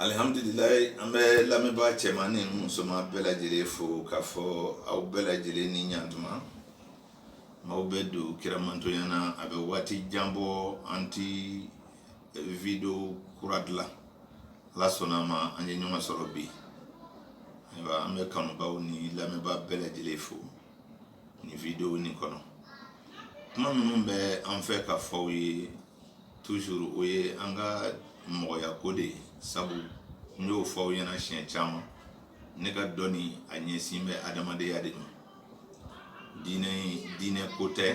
Alihamdulilayi an bɛ lamɛnbaa cɛman ni musoman bɛɛ lajɛlen fo k'a fɔ aw bɛɛ lajɛlen ni ɲtuma maaw bɛ don kiramantoya na a bɛ waati jan bɔ an tɛ video kura dilan ala sɔnna a ma an ye ɲɔgɔn sɔrɔ bi ayiwa an bɛ kanubaw ni lamɛnbaa bɛɛ lajɛlen fo nin video nin kɔnɔ kuma minnu bɛ an fɛ ka fɔ aw ye Toujours o ye an ka mɔgɔya ko de ye sabu n y'o fɔ aw ɲɛna siɲɛ caman ne ka dɔni a ɲɛsin bɛ adamadenya de ma diinɛ diinɛ ko tɛ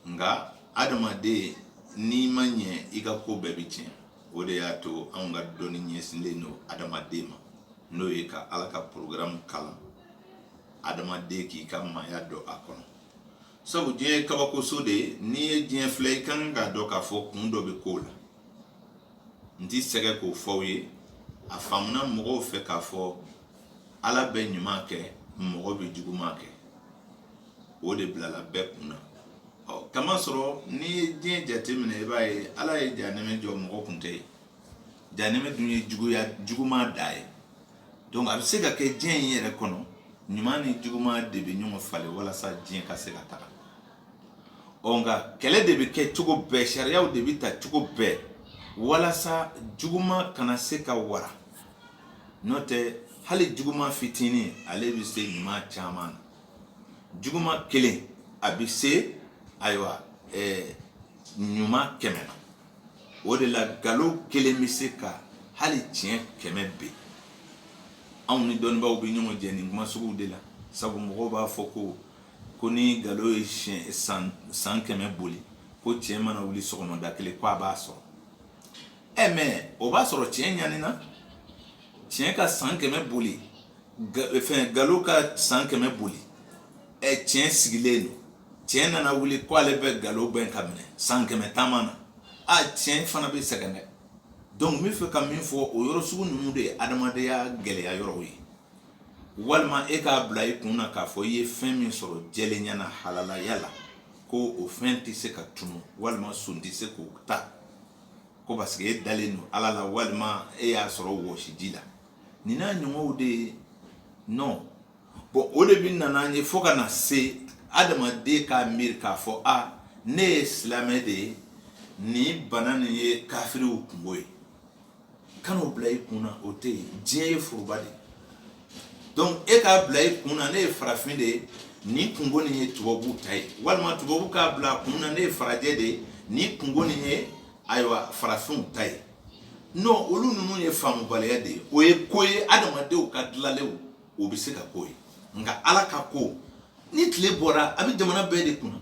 nka adamaden n'i ma ɲɛ i ka ko bɛɛ bɛ tiɲɛ o de y'a to anw ka dɔni ɲɛsinlen don adamaden ma n'o ye ka ala ka porogaramu kalan adamaden k'i ka maaya dɔn a kɔnɔ sabu diɲɛ ye kabakoso de ye n'i ye diɲɛ filɛ i ka kan k'a dɔn k'a fɔ kun dɔ bɛ ko la n ti sɛgɛn k'o fɔ aw ye a faamuna mɔgɔw fɛ k'a fɔ ala bɛ ɲuman kɛ mɔgɔ bɛ juguman kɛ o de bilala bɛɛ kun na ɔ k'a masɔrɔ n'i ye diɲɛ jateminɛ i b'a ye ala ye janɛmɛ jɔ mɔgɔ kun tɛ yen janɛmɛ dun ye juguya juguman dan ye donc a bɛ se ka kɛ diɲɛ in yɛrɛ kɔnɔ ɲuman ni juguma de bɛ ɲɔgɔn falen walasa diɲɛ ka se ka taga ɔ nka kɛlɛ de bɛ kɛ cogo bɛɛ sariyaw de bɛ ta cogo bɛɛ walasa juguma kana se ka wara n'o tɛ hali juguma fitinin ale bɛ se ɲuman caman na juguma kelen a bɛ se ayiwa ɛɛ ɲuman kɛmɛ na o de la nkalon kelen bɛ se ka hali tiɲɛ kɛmɛ ben anw ni dɔnnibaw bɛ ɲɔgɔn jɛ nin kuma sugu de la sabu mɔgɔw b'a fɔ ko ko ni nkalon ye san kɛmɛ boli ko tiɲɛ mana wuli sɔgɔmada kelen ko a b'a sɔrɔ ɛ mais o b'a sɔrɔ tiɲɛ ɲanina tiɲɛ ka san kɛmɛ boli fɛn nkalon ka san kɛmɛ boli ɛ tiɲɛ sigilen don tiɲɛ nana wuli ko ale bɛ nkalon gɛn ka minɛ san kɛmɛ taama na a tiɲɛ fana bɛ sɛgɛn dɛ donc n bɛ fɛ ka min fɔ o yɔrɔ sugu ninnu de ye adamadenya gɛlɛya yɔrɔw ye walima e k'a bila i kun na k'a fɔ i ye fɛn min sɔrɔ jɛlenya na halalaya la ko o fɛn tɛ se ka tunu walima son tɛ se k'o ta ko parce que e dalen don ala la walima e y'a sɔrɔ wɔsiji la nin n'a ɲɔgɔnw de ye non Bon o de bɛ na n'a ye fo ka na se adamaden k'a miiri k'a fɔ a ne ye silamɛ de ye nin bana nin ye kafiriw kunko ye kan'a bila i kun na o tɛ yen diɲɛ ye foroba de donc e k'a bila i kun na ne ye farafin de ye nin kunko nin ye tubabuw ta ye walima tubabu k'a bila kun na ne ye farajɛ de ye nin kunko nin ye ayiwa farafinw ta ye non olu ninnu ye faamubaliya de ye o ye ko ye adamadenw ka dilalenw o bɛ se ka k'o ye nka ala ka ko ni tile bɔra a bɛ jamana bɛɛ de kunna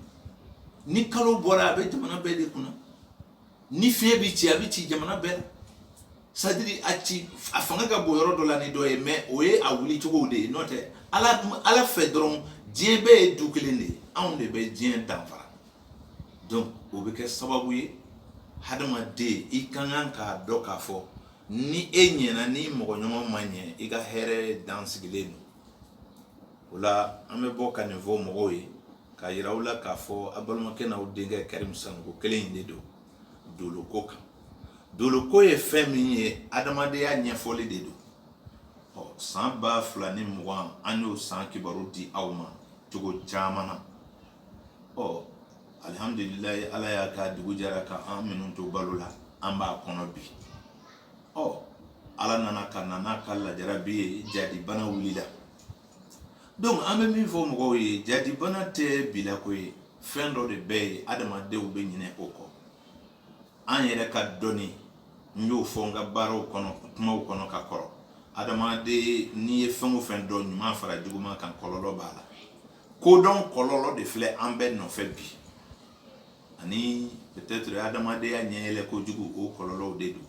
ni kalo bɔra a bɛ jamana bɛɛ de kunna ni fiɲɛ bɛ ci a bɛ ci jamana bɛɛ c'est-à-dire a ci a fanga ka bon yɔrɔ dɔ la ni dɔ ye mais o ye a wuli cogow de ye n'o tɛ ala fɛ dɔrɔn diɲɛ bɛɛ ye du kelen de ye anw de bɛ diɲɛ danfara donc o bɛ kɛ sababu ye hadamaden i ka kan k'a dɔn k'a fɔ ni e ɲɛna n'i mɔgɔɲɔgɔn ma ɲɛ i ka hɛrɛ dan sigilen don o la an bɛ bɔ ka nin fɔ mɔgɔw ye k'a jira u la k'a fɔ a balimakɛ n'aw denkɛ karimu sanɔgɔ kelen in de don doloko kan doloko ye fɛn min ye adamadenya ɲɛfɔli de don ɔ san ba fila ni mugan an y'o san kibaru di aw ma cogo caman na ɔ alihamudulilayi ala y'a kɛ dugu jɛra ka an minnu to balo la an b'a kɔnɔ bi ɔ ala nana ka na n'a ka lajarabi ye jadi bana wulila donc an bɛ min fɔ mɔgɔw ye jadi bana tɛ bi la ko ye fɛn dɔ de bɛ yen adamadenw bɛ ɲinɛ o kɔ an yɛrɛ ka dɔnni n y'o fɔ n ka barow kɔnɔ kumaw kɔnɔ ka kɔrɔ adamaden n'i ye fɛn o fɛn dɔn ɲuman fara juguman kan kɔlɔlɔ b'a la kodɔn kɔlɔlɔ de filɛ an bɛɛ nɔfɛ bi ani peut-être adamadenya ɲɛyɛlɛ kojugu o kɔlɔlɔw de don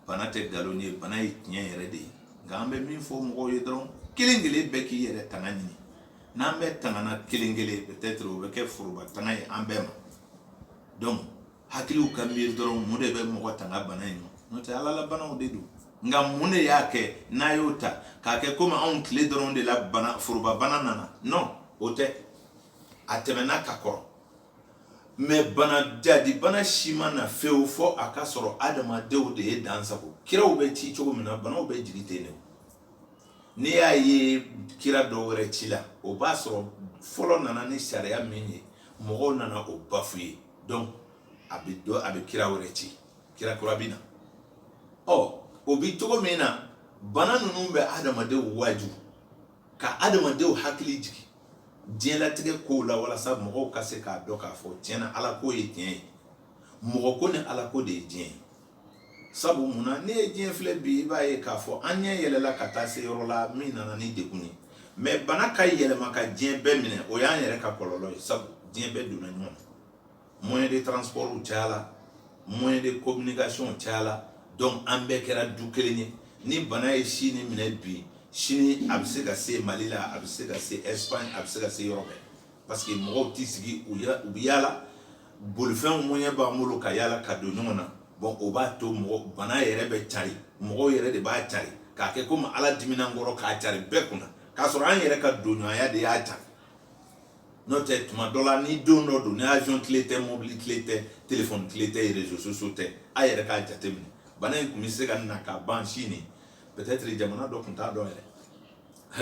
bana tɛ nkalon ye bana ye tiɲɛ yɛrɛ de ye nka an bɛ min fɔ mɔgɔw ye dɔrɔn kelen kelen bɛɛ k'i yɛrɛ tanga ɲini n'an bɛɛ tangana kelen kelen peut-être o bɛ kɛ foroba tanga ye an bɛɛ ma donc hakiliw ka miiri dɔrɔn mun de bɛ mɔgɔ tanga bana in ma n'o tɛ ala la banaw de don nka mun de y'a kɛ n'a y'o ta k'a kɛ comme anw tile dɔrɔn de la bana forobabana nana non o tɛ a tɛmɛna ka kɔrɔ mais bana jadi bana si ma na fewu fo a k'a sɔrɔ adamadenw de ye dan sagon kiraw bɛ ci cogo min na banaw bɛ jigi ten de n'i y'a ye kira dɔ wɛrɛ cila o b'a sɔrɔ fɔlɔ nana ni sariya min ye mɔgɔw nana o bafouer donc a bɛ dɔ a bɛ kira wɛrɛ ci kira kura bɛ na ɔ o bɛ cogo min na bana ninnu bɛ adamadenw waaju ka adamadenw hakili jigin diɲɛlatigɛ kow la walasa mɔgɔw ka se k'a dɔn k'a fɔ tiɲɛ na ala ko ye tiɲɛ ye mɔgɔ ko ni ala ko de ye diɲɛ ye sabu mun na n'i ye diɲɛ filɛ bi i b'a ye k'a fɔ an ɲɛ yɛlɛla ka taa se yɔrɔ la min nana ni degun ye mais bana ka yɛlɛma ka diɲɛ bɛɛ minɛ o y'an yɛrɛ ka kɔlɔlɔ ye sabu diɲɛ bɛɛ donna ɲɔgɔn na moyen de transportw cayala moyen de communication cayala donc an bɛɛ kɛra du kelen ye ni bana ye sini minɛ bi sini a bɛ se ka se mali la a bɛ se ka se espagne a bɛ se ka se yɔrɔ bɛɛ parce que mɔgɔw t'i sigi u bɛ yaala bolifɛnw moyen b'an bolo ka yaala ka don ɲɔgɔn na bon o b'a to mɔgɔ bana yɛrɛ bɛ cari mɔgɔw yɛrɛ de b'a cari k'a kɛ komi ala dimina an kɔrɔ k'a cari bɛɛ kunna k'a sɔrɔ an yɛrɛ ka donɲɔgɔnya de y'a cari n'o tɛ tuma dɔ la ni don dɔ don ni avion tile tɛ mobili tile tɛ telefɔni tile tɛ réseaux sociaux tɛ a yɛrɛ k'a jateminɛ bana in tun bɛ se ka na ka ban sini peut-être jamana dɔ tun t'a dɔn yɛrɛ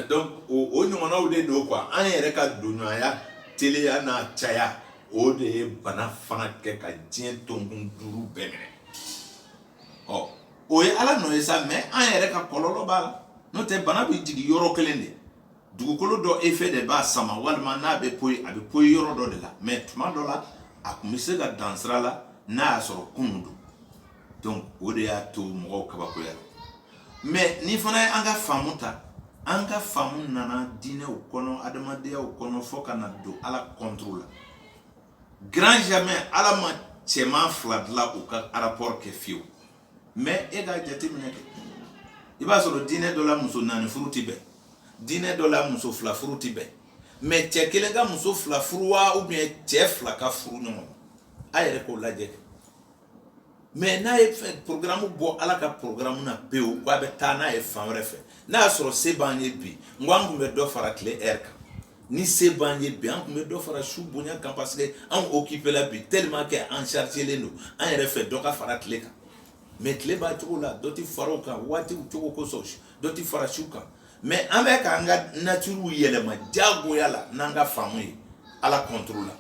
donc o o ɲɔgɔnnaw de don quoi an yɛrɛ ka donɲɔgɔnya teliya n'a caya o de ye bana fana kɛ ka diɲɛ tonkun duuru bɛɛ minɛ ɔ o ye ala nɔ ye sa mais an yɛrɛ ka kɔlɔlɔ b'a la n'o tɛ bana bɛ jigin yɔrɔ kelen de dugukolo dɔ effet de b'a sama walima n'a bɛ poyi a bɛ poyi yɔrɔ dɔ de la mais tuma dɔ la a tun bɛ se ka dan sira la n'a y'a sɔrɔ kunun don donc o de y'a to mɔgɔw kabakoyara mais nin fana ye an ka faamu ta an ka faamu nana diinɛw kɔnɔ adamadenyaw kɔnɔ fo ka na don ala contre la grand jamais ala ma cɛman fila dilan u ka rapport kɛ fiyewu mais e k'a jateminɛ kɛ i b'a sɔrɔ diinɛ dɔ la muso naani furu tɛ bɛn diinɛ dɔ la muso fila furu tɛ bɛn mais cɛ kelen ka muso fila furu wa ou bien cɛ fila ka furu ɲɔgɔn a yɛrɛ k'o lajɛ mais n'a ye porogaramu bɔ ala ka porogaramu na pewu k'a bɛ taa n'a ye fan wɛrɛ fɛ n'a y'a sɔrɔ se b'an ye bi n ko an tun bɛ dɔ fara tile heure kan ni se b'an ye bi an tun bɛ dɔ fara su bonya kan parce que an occupéla bi tellement que an chargélen don an yɛrɛ fɛ dɔ ka fara tile kan mais tile b'a cogo la dɔ tɛ fara o kan waatiw cogo kosɔn dɔ tɛ fara su kan mais an bɛ k'an ka naturew yɛlɛma jagoya la n'an ka faamu ye ala contre la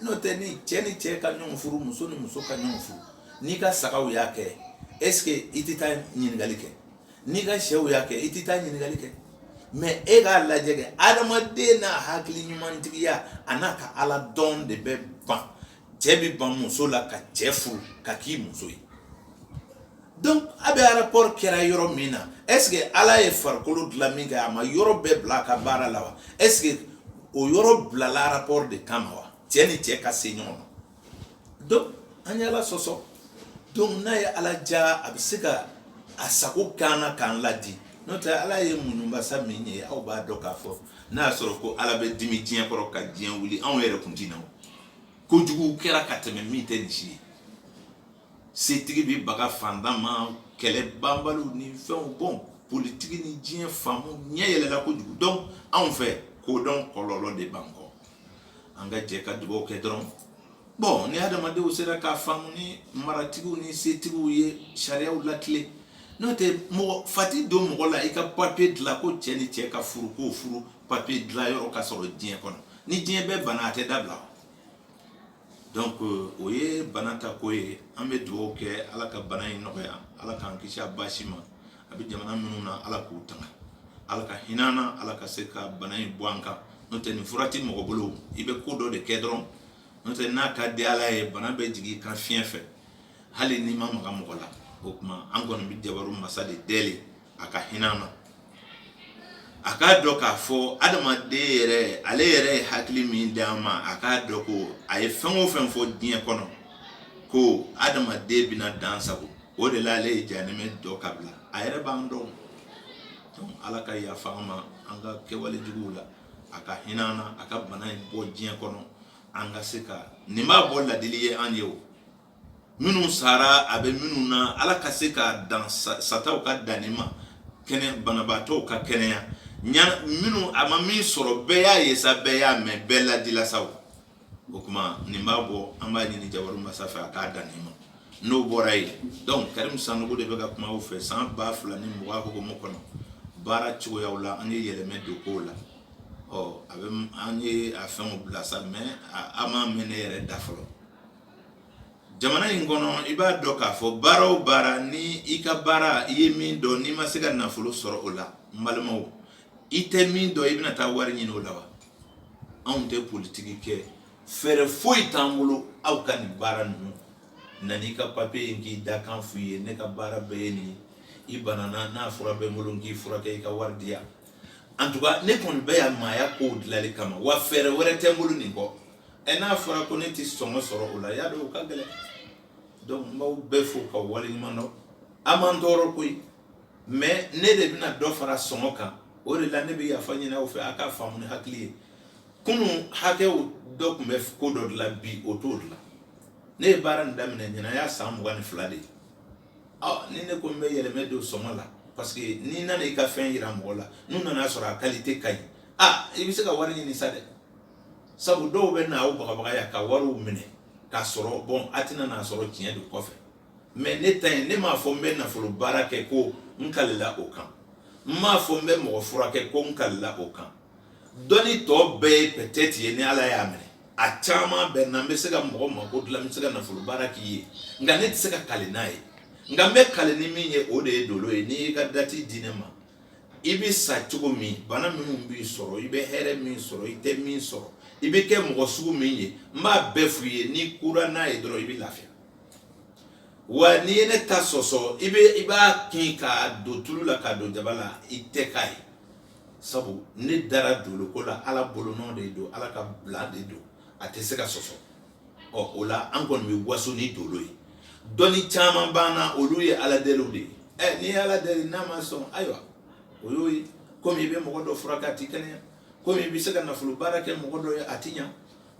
n'o tɛ ni cɛ ni cɛ ka ɲɔgɔn furu muso ni muso ka ɲɔgɔn furu n'i ka sagaw y'a kɛ est ce que i tɛ taa ɲininkali kɛ n'i ka sɛw y'a kɛ i tɛ taa ɲininkali kɛ mais e k'a lajɛ kɛ adamaden n'a hakili ɲumantigiya an'a ka ala dɔn de bɛ ban cɛ bɛ ban muso la ka cɛ furu k'a k'i muso ye donc a bɛ rapport kɛra yɔrɔ min na est ce que ala ye farikolo dilan min kɛ a ma yɔrɔ bɛɛ bila a ka baara la wa est ce que o yɔrɔ bilala rapport de kama wa cɛ ni cɛ ka se ɲɔgɔn ma donc an ye ala sɔsɔ donc n'a ye ala diya a bɛ se ka a sago k'an na k'an ladi n'o tɛ ala ye muɲu masa min ye aw b'a dɔn k'a fɔ n'a y'a sɔrɔ ko ala bɛ dimi diɲɛ kɔrɔ ka diɲɛ wuli anw yɛrɛ kun tɛ na o kojuguw kɛra ka tɛmɛ min tɛ nin si ye setigi bɛ baga fantan ma kɛlɛbanbaliw ni fɛnw bon politiki ni diɲɛ faamu ɲɛ yɛlɛla kojugu donc anw fɛ kodɔn kɔlɔlɔ de b'an kɔ an ka jɛ ka dugawu kɛ dɔrɔn bon ni adamadenw sera k'a faamu ni maratigiw ni setigiw ye sariyaw latilen n'o tɛ mɔgɔ fa tɛ don mɔgɔ la i ka papiye dilan ko cɛ ni cɛ ka furu k'o furu papier dilan yɔrɔ ka sɔrɔ diɲɛ kɔnɔ ni diɲɛ bɛɛ bana a tɛ dabila donc o ye bana ta ko ye an bɛ dugawu kɛ ala ka bana in nɔgɔya ala k'an kisi a baasi ma a bɛ jamana minnu na ala k'u tanga ala ka hin'an na ala ka se ka bana in bɔ an kan n'o tɛ nin fura tɛ mɔgɔ bolo i bɛ ko dɔ de kɛ dɔrɔn n'o tɛ n'a ka di ala ye bana bɛ jigin i kan fiɲɛ fɛ hali n'i ma maga mɔgɔ la o tuma an kɔni bɛ jabaru masa de deli a ka hinɛ an na a k'a dɔn k'a fɔ adamaden yɛrɛ ale yɛrɛ ye hakili min di a ma a k'a dɔn ko a ye fɛn o fɛn fɔ diɲɛ kɔnɔ ko adamaden bɛna dan sagon o de la ale ye jahanama dɔ ka bila a yɛrɛ b'an dɔn ala ka yafa an ma an ka kɛwale juguw la a ka hinɛ an na a ka bana in bɔ diɲɛ kɔnɔ an ka se ka nin b'a bɔ ladili ye an ye o minnu sara a bɛ minnu na ala ka se ka dan sataw ka dan nin ma kɛnɛ banabaatɔw ka kɛnɛya minnu a ma min sɔrɔ bɛɛ y'a ye sa bɛɛ y'a mɛn bɛɛ ladila sa o tuma nin b'a bɔ an b'a ɲini jabaru masa fɛ a k'a dan nin ma n'o bɔra yen donc karim sanogo de bɛ ka kuma aw fɛ san ba fila ni mugan hukumu kɔnɔ baara cogoya la an ye yɛlɛmɛ don kow la ɔ a bɛ an ye a fɛn bila sa mais a ma mɛɛn ne yɛrɛ da fɔlɔ jamana in kɔnɔ i b'a dɔn k'a fɔ baara o baara ni i ka baara i ye min dɔn n'i ma se ka nafolo sɔrɔ o la n balimaw i tɛ min dɔn i bɛna taa wari ɲini o la wa anw tɛ politiki kɛ fɛɛrɛ foyi t'an bolo aw ka nin baara ninnu na n'i ka papiye ye n k'i dakan f'i ye ne ka baara bɛɛ ye nin ye i banana n'a fura bɛ n bolo n k'i furakɛ i ka wari di yan en tout cas ne kɔni bɛ yan maaya kow dilanli kama wa fɛɛrɛ wɛrɛ tɛ n bolo nin kɔ ɛ n'a fɔra ko ne tɛ sɔngɔ sɔrɔ o la y'a dɔn o ka gɛlɛn donc n b'aw bɛɛ fo k'aw waleɲumandɔn a man tɔɔrɔ koyi mais ne de bɛna dɔ fara sɔngɔ kan o de la ne bɛ yafa ɲini aw fɛ a k'a faamu ni hakili ye kunun hakɛw dɔ tun bɛ ko dɔ dilan bi o t'o dilan ne ye baara nin daminɛ ɲinan y'a san mugan ni fila de ye ni ne ko n bɛ yɛlɛmɛ don sɔngɔ la parce que n'i nana i ka fɛn yira mɔgɔ la n'u nana a sɔrɔ a kalite ka ɲi a i bɛ se ka wari ɲini sa dɛ sabu dɔw bɛ na aw bagabagaya ka wariw minɛ k'a sɔrɔ bon a tɛna n'a sɔrɔ tiɲɛ don kɔfɛ mais ne ta yen ne m'a fɔ n bɛ nafolo baara kɛ ko n kalila o kan n m'a fɔ n bɛ mɔgɔ furakɛ ko n kalila o kan dɔnni tɔ bɛɛ ye pɛtɛti ye ni ala y'a minɛ a caman bɛ na n bɛ se ka mɔgɔ mako dilan n bɛ se ka nafolo baara k'i ye nka ne tɛ se ka kali n'a ye nka n bɛ kali ni min ye o de ye dolo ye n'i y'i ka dati di ne ma i bɛ sa cogo min bana minnu b'i sɔrɔ i bɛ hɛrɛ min sɔrɔ i tɛ min sɔrɔ i bɛ kɛ mɔgɔ sugu min ye n b'a bɛɛ f'i ye n'i kura n'a ye dɔrɔn i bɛ lafiya wa n'i ye ne ta sɔsɔ i b'a kin k'a don tulu la k'a don jaba la i tɛ k'a ye sabu ne dara dolo ko la ala bolo nɔ de don ala ka bila de don a tɛ se ka sɔsɔ ɔ o la an kɔni bɛ waso ni dolo ye dɔnni caman b'an na olu ye ala deliw de ye ɛ n'i ye ala deli n'a ma sɔn ayiwa o y'o ye komi i bɛ mɔgɔ dɔ furakɛ a tɛ kɛnɛya komi i bɛ se ka nafolo baara kɛ mɔgɔ dɔ ye a tɛ ɲa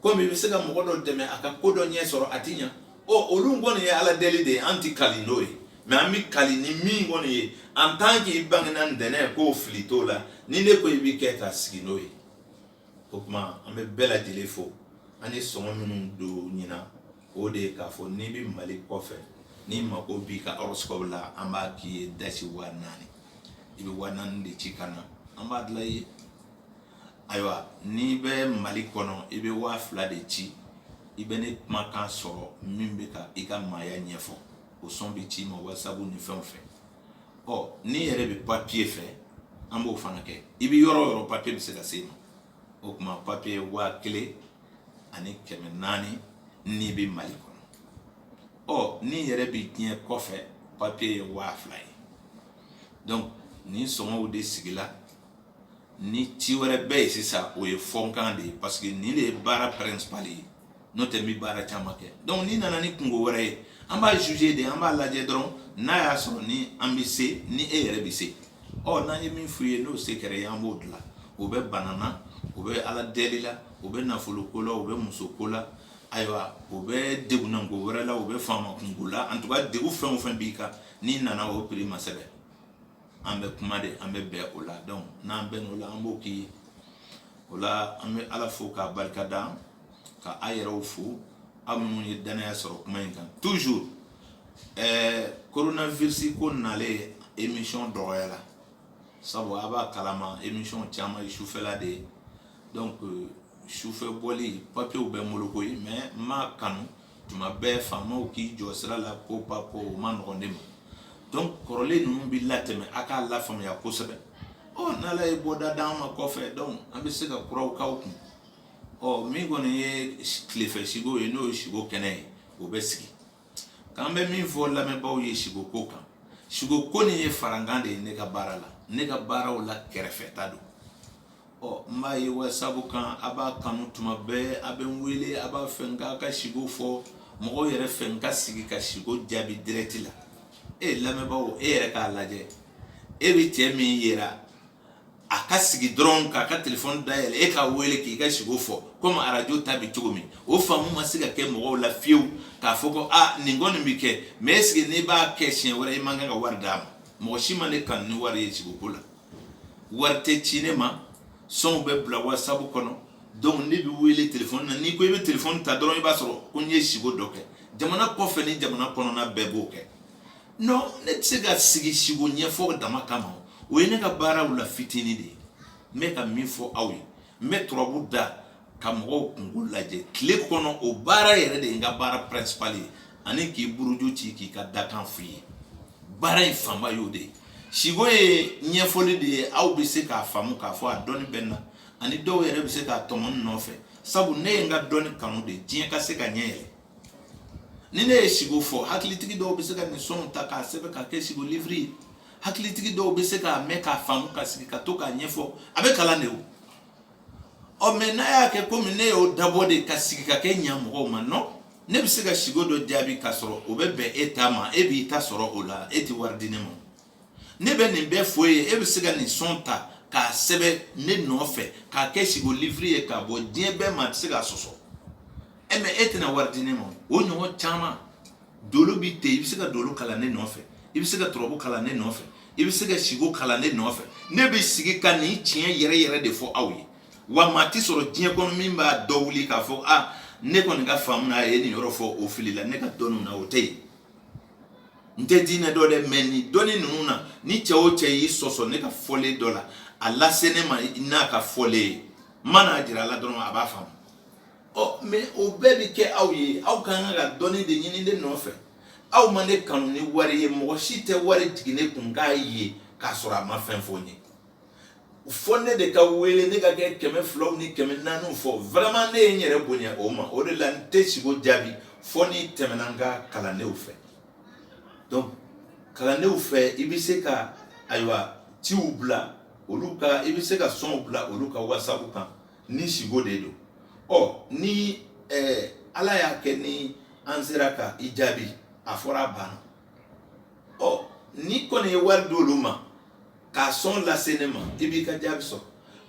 komi i bɛ se ka mɔgɔ dɔ dɛmɛ a ka ko dɔ ɲɛ sɔrɔ a ti ɲa ɔ olu kɔni ye ala deli de ye an ti kali n'o ye mais an bɛ kali ni min kɔni ye en tant qu'i bangena ntɛnɛn ko fili t'o la ni ne ko i bɛ kɛ ka sigi n'o ye o tuma an bɛ bɛɛ lajɛlen fo an ye sɔngɔ minnu don ɲinan o de ye k'a fɔ n'i bɛ mali kɔfɛ n'i mako b'i ka horoscope la an b'a k'i ye dasi waa naani i bɛ waa naani de ci ka na an b'a dilan i ye ayiwa n'i bɛ mali kɔnɔ i bɛ waa fila de ci i bɛ ne kumakan sɔrɔ min bɛ ka i ka maaya ɲɛfɔ o sɔn bɛ ci i ma WhatsApp ni fɛnw fɛ ɔ n'i yɛrɛ bɛ papiye fɛ an b'o fana kɛ i bɛ yɔrɔ o yɔrɔ papiye bɛ se ka se i ma o tuma papiye waa kelen ani kɛmɛ naani n'i bɛ mali kɔnɔ ɔ n'i yɛrɛ bɛ diɲɛ kɔfɛ papiye ye waa fila ye donc nin sɔngɔw de sigila ni ci wɛrɛ bɛ yen sisan o ye farankan de ye parce que nin de ye baara principal ye n'o tɛ n bɛ baara caman kɛ donc n'i nana ni kunko wɛrɛ ye an b'a juger de an b'a lajɛ dɔrɔn n'a y'a sɔrɔ ni an bɛ se ni e yɛrɛ bɛ se ɔ n'an ye min f'i ye n'o se kɛr'i ye an b'o dilan o bɛ bana na o bɛ ala deli la o bɛ nafolo ko la o bɛ muso ko la ayiwa o bɛ degunnako wɛrɛ la o bɛ faama kunko la en tout cas degun fɛn o fɛn b'i kan n'i nana o prix ma sɛbɛn an bɛ kuma de an bɛ bɛn o la donc n'an bɛn o la an b'o k'i ye o la an bɛ ala fo k'a barika da ka a yɛrɛw fo aw minnu ye dannaya sɔrɔ kuma in kan toujours ɛɛ coronavirus ko nalen émission dɔgɔyala sabu a b'a kalama émission caman ye sufɛla de ye donc sufɛ bɔli papiyew bɛ n bolo koyi mais n m'a kanu tuma bɛɛ faamaw k'i jɔ sira la ko pa ko o man nɔgɔn ne ma donc kɔrɔlen ninnu bɛ latɛmɛ a k'a lafaamuya kosɛbɛ ɔ n'ala ye bɔda d'an ma kɔfɛ donc an bɛ se ka kuraw k'aw kun ɔ min kɔni ye tilefɛ siko ye n'o ye siko kɛnɛ ye o bɛ sigi k'an bɛ min fɔ lamɛnbaaw ye siko ko kan siko ko nin ye farankan de ye ne ka baara la ne ka baaraw la kɛrɛfɛta don Ɔ n b'a ye wasabu kan a b'a kanu tuma bɛɛ a bɛ n wele a b'a fɛ n k'a ka siko fɔ mɔgɔw yɛrɛ fɛ n ka sigi ka siko jaabi direct la e ye lamɛnbaa e yɛrɛ k'a lajɛ e bɛ cɛ min ye a ka sigi dɔrɔn k'a ka telefɔni dayɛlɛ e k'a wele k'i ka siko fɔ komi arajo ta bɛ cogo min o faamu ma se ka kɛ mɔgɔw la fiyewu k'a fɔ ko aa nin kɔni bɛ kɛ mɛ est-ce que n'i b'a kɛ siɲɛ wɛrɛ i man kan ka wari d'a ma mɔgɔ si ma ne kanu ni wari ye siko ko la wari tɛ ci ne ma sɔnw bɛ bila wasabu kɔnɔ donc ne bɛ wele telefɔni na n'i ko i bɛ telefɔni ta dɔrɔn i b'a sɔrɔ ko n ye siko dɔ kɛ jamana kɔfɛ ni jamana kɔnɔna bɛɛ b'o kɛ non ne tɛ se ka sigi siko ɲɛfɔ dama kama o ye ne ka baaraw la fitinin de ye n bɛ ka min fɔ aw ye n bɛ turabu da ka mɔgɔw kungo lajɛ tile kɔnɔ o baara yɛrɛ de ye n ka baara principal ye ani k'i buruju ci k'i ka dakan f'i ye baara in fanba y'o de ye siko ye ɲɛfɔli de ye aw bɛ se k'a faamu k'a fɔ a dɔnni bɛ n na ani dɔw yɛrɛ bɛ se k'a tɔmɔ ne nɔfɛ sabu ne ye n ka dɔnni kanu de diɲɛ ka se ka ɲɛ yɛlɛ ni ne ye siko fɔ hakilitigi dɔw bɛ se ka nin sɔnw ta k'a sɛbɛn ka kɛ siko liviri ye hakilitigi dɔw bɛ se k'a mɛn k'a faamu ka sigi ka to k'a ɲɛfɔ a bɛ kalan de o ɔ mɛ n'a y'a kɛ komi ne y'o dabɔ de ka sigi ka kɛ ɲa mɔgɔw ma non ne bɛ se ka sigo dɔ jaabi k'a sɔrɔ o bɛ bɛn e ta ma e b'i ta sɔrɔ o la e tɛ wari di ne ma ne bɛ nin bɛɛ fɔ e ye e bɛ se ka nin sɔn ta k'a sɛbɛn ne nɔfɛ k'a kɛ sigo liviri ye k'a bɔ diɲɛ bɛɛ ma a tɛ se k'a sɔsɔ e mɛ e tɛna wari di ne ma o ɲɔgɔn caman dolo bi ten i bɛ se ka dolo kalan ne nɔfɛ i bɛ se ka turabu kalan ne nɔfɛ i bɛ se ka siko kalan ne nɔfɛ ne bɛ sigi ka nin tiɲɛ yɛrɛ yɛrɛ de fɔ aw ye wa maa tɛ sɔrɔ diɲɛ kɔnɔ min b'a da wuli k'a fɔ a ne kɔni ka faamu na a ye nin yɔrɔ fɔ o filila ne ka dɔnniw na o tɛ yen n tɛ diinɛ dɔn dɛ mɛ nin dɔnni ninnu na ni cɛ o cɛ y'i sɔsɔ ne ka fɔlen dɔ la a lase ne ma n'a ka fɔlen ye n man'a jira a la dɔrɔn a b'a faamu ɔ mɛ o bɛɛ bɛ kɛ aw ye aw ka kan ka dɔnni de ɲini ne nɔfɛ aw ma ne kanu ni wari ye mɔgɔ si tɛ wari jigin ne kun k'a ye k'a sɔrɔ a ma fɛn fɔ n ye fɔ ne de ka wele ne ka kɛ kɛmɛ filaw ni kɛmɛ naaniw fɔ vraiment ne ye n yɛrɛ bonya o ma o de la n tɛ sigo jaabi fɔ n'i tɛmɛna n ka kalandenw fɛ donc kalandenw fɛ i bɛ se ka ayiwa ciw bila olu ka i bɛ se ka sɔnw bila olu ka wasabu kan ni siko de don ɔ ni ɛɛ eh, ala y'a kɛ ni an sera ka i jaabi a fɔra a banna ɔ n'i kɔni ye wari d'olu ma ka sɔn lase ne ma i b'i ka jaabi sɔrɔ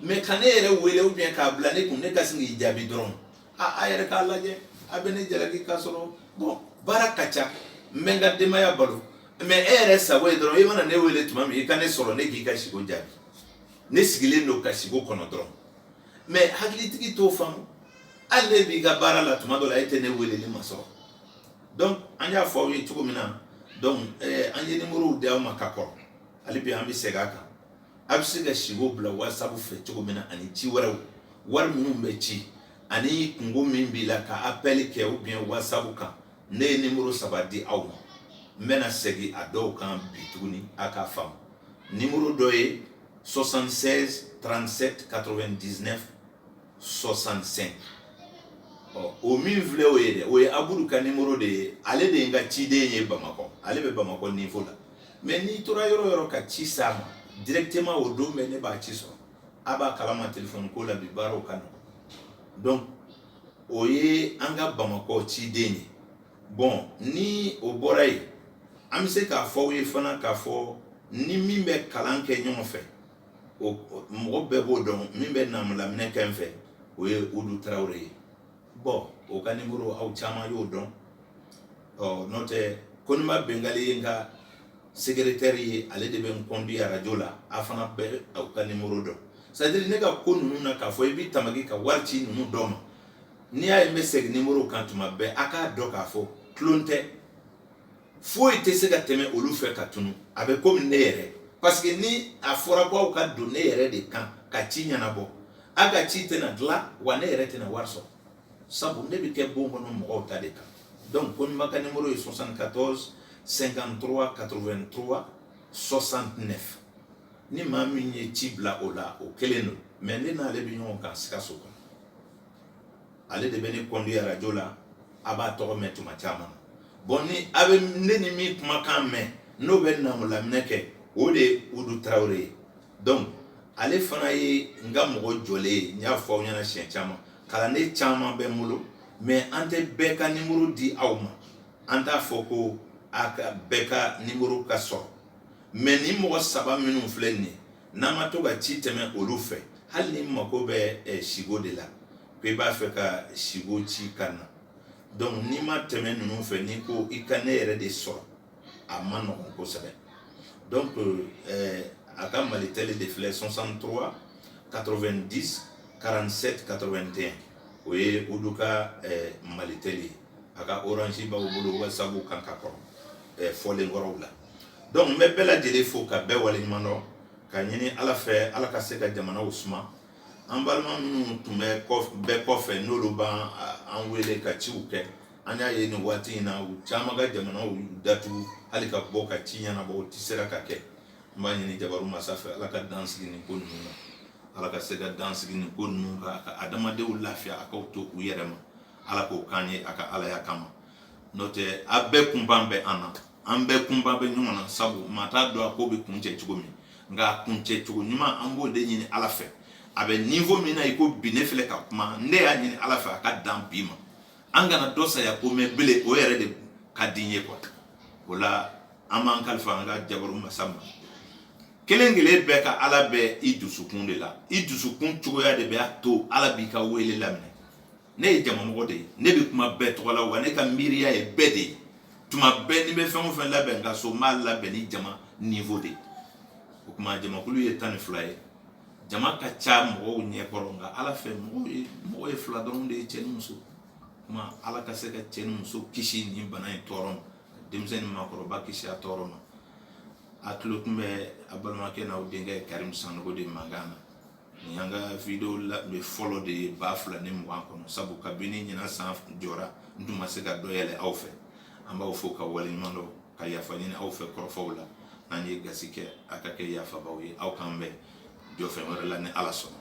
mɛ ka ne yɛrɛ wele ou bien k'a bila ne kun ne ka sin k'i jaabi dɔrɔn a a yɛrɛ k'a lajɛ a bɛ ne jalaki k'a sɔrɔ bon baara ka ca n bɛ n ka denbaya balo mɛ e yɛrɛ sago ye dɔrɔn i mana ne wele tuma min i ka ne sɔrɔ ne k'i ka siko jaabi ne sigilen don ka siko kɔnɔ dɔrɔn mais hakilitigi t'o faamu hali ne b'i ka baara la tuma dɔ la e tɛ ne weleli masɔrɔ donc an y'a fɔ aw ye cogo min na donc eh, an ye nimorow di aw ma ka kɔrɔ hali bi an bɛ segin a kan a bɛ se ka siko bila whatsapp fɛ cogo min na ani ci wɛrɛw wari minnu bɛ ci ani kungo min b'i la ka appel kɛ ou bien whatsapp kan ne ye nimuru saba di aw ma n bɛna segin a dɔw kan bi tuguni a k'a faamu nimuru dɔ ye 76 37 99 65 ɔ o min filɛ o ye dɛ o ye aburu ka nimoro de ye ale de ye n ka ciden ye bamakɔ ale bɛ bamakɔ niveau la mais n'i tora yɔrɔ yɔrɔ ka ci s'a ma directement o don bɛɛ ne b'a ci sɔrɔ a b'a kalama telefɔni ko la bi baaraw ka nɔgɔ donc o ye an ka bamakɔ ciden ye bon ni o bɔra yen an bɛ se k'a fɔ aw ye fana k'a fɔ ni min bɛ kalan kɛ ɲɔgɔn fɛ mɔgɔ bɛɛ b'o dɔn min bɛ naamulaminɛ kɛ n fɛ o ye udu tarawele ye bon o ka nimoro aw caman y'o dɔn ɔ n'o tɛ koniba bengali ye n ka Segeretɛri ye ale de bɛ n conduit arajo la a fana bɛ o ka nimuru dɔn c'est-à-dire ne ka ko ninnu na k'a fɔ i bɛ tamaki ka wari ci ninnu dɔ ma n'i y'a ye n bɛ segin nimuru kan tuma bɛɛ a k'a dɔn k'a fɔ tulon tɛ foyi tɛ se ka tɛmɛ olu fɛ ka tunun a bɛ komi ne yɛrɛ parce que ni a fɔra ko aw ka don ne yɛrɛ de kan ka ci ɲɛnabɔ a ka ci tɛna dilan wa ne yɛrɛ tɛna wari sɔrɔ sabu ne bɛ kɛ bon kɔnɔ mɔgɔw ta de kan donc Koniba ka numéro ye 74 53 83 69 ni maa min ye ci bila o la o kelen don mais ne n'ale bɛ ɲɔgɔn kan Sikaso kɔnɔ ale de bɛ ne conduit arajo la a b'a tɔgɔ mɛn tuma caman na bon ni a bɛ ne ni min kumakan mɛn n'o bɛ naamulaminɛ kɛ o de ye Udu Tarawele ye donc ale fana ye n ka mɔgɔ jɔlen ye n y'a fɔ aw ɲɛna siɲɛ caman kalanden caman bɛ n bolo mais an tɛ bɛɛ ka nimuru di aw ma an t'a fɔ ko a ka bɛɛ ka nimuru ka sɔrɔ mais nin mɔgɔ saba minnu filɛ nin ye n'an ma to ka ci tɛmɛ olu fɛ hali n'i mago bɛ eh, siko de la ko i b'a fɛ ka siko ci ka na donc n'i ma tɛmɛ ninnu fɛ n'i ko i ka ne yɛrɛ de sɔrɔ a man nɔgɔ kosɛbɛ donc euh, a ka malitɛli de filɛ 63 90 47 81 o ye udu ka euh, malitɛli ye a ka orange b'aw bolo wasabu kan ka kɔrɔ euh, fɔlen kɔrɔw la donc n bɛ bɛɛ lajɛlen fo ka bɛɛ waleɲuman dɔn ka ɲini ala fɛ ala ka se ka jamanaw suma an balima minnu tun bɛ bɛɛ kɔfɛ n'olu b'an an wele ka ciw kɛ an y'a ye nin waati in na u caman ka jamana datugu hali ka bɔ ka ci ɲɛnabɔ o tɛ se ka kɛ n b'a ɲini jabaru masa fɛ ala ka dan sigi nin ko ninnu na ala ka se ka dan sigi nin ko ninnu kan a ka adamadenw lafiya a k'aw to u yɛrɛ ma ala k'o k'an ye a ka alaya kama n'o tɛ a bɛɛ kunban bɛ an na an bɛɛ kunban bɛ ɲɔgɔn na sabu maa t'a dɔn a ko bɛ kuncɛ cogo min nka a kuncɛ cogo ɲuman an b'o de ɲini ala fɛ a bɛ niwo min na i ko bi ne filɛ ka kuma ne y'a ɲini ala fɛ a ka dan bi ma an kana dɔ saya ko mɛ bele o yɛrɛ de ka di n ye kuwa o la an b'an kalifa an ka jabaru masa ma kelen kelen bɛɛ ka ala bɛ i dusukun de la i dusukun cogoya de bɛ a to ala b'i ka wele laminɛ ne ye jamamɔgɔ de ye ne bɛ kuma bɛɛ tɔgɔ la wa ne ka miiriya ye bɛɛ de ye tuma bɛɛ ni n bɛ fɛn o fɛn labɛn n ka so n b'a labɛn ni jama niwo de ye o tuma jamakulu ye tan ni fila ye jama ka ca mɔgɔw ɲɛ kɔrɔ nka ala fɛ mɔgɔ ye fila dɔrɔn de ye cɛ ni muso kuma ala ka se ka cɛ ni muso kisi nin bana in tɔɔrɔ ma denmisɛn ni maakɔrɔba kisi a tɔɔrɔ ma a tulo tun bɛ a balimakɛ n'aw denkɛ karimu sanogo de mankan na nin y'an ka video labɛn fɔlɔ de ye ba fila ni mugan kɔnɔ sabu kabini ɲinan san jɔra n tun ma se ka dɔ yɛlɛ aw fɛ an b'aw fo ka waleɲuman dɔn ka yafa ɲini aw fɛ kɔrɔfɔw la n'an ye gasi kɛ a ka kɛ yafabaaw ye aw k'an bɛn jɔfɛn wɛrɛ la ni ala sɔnna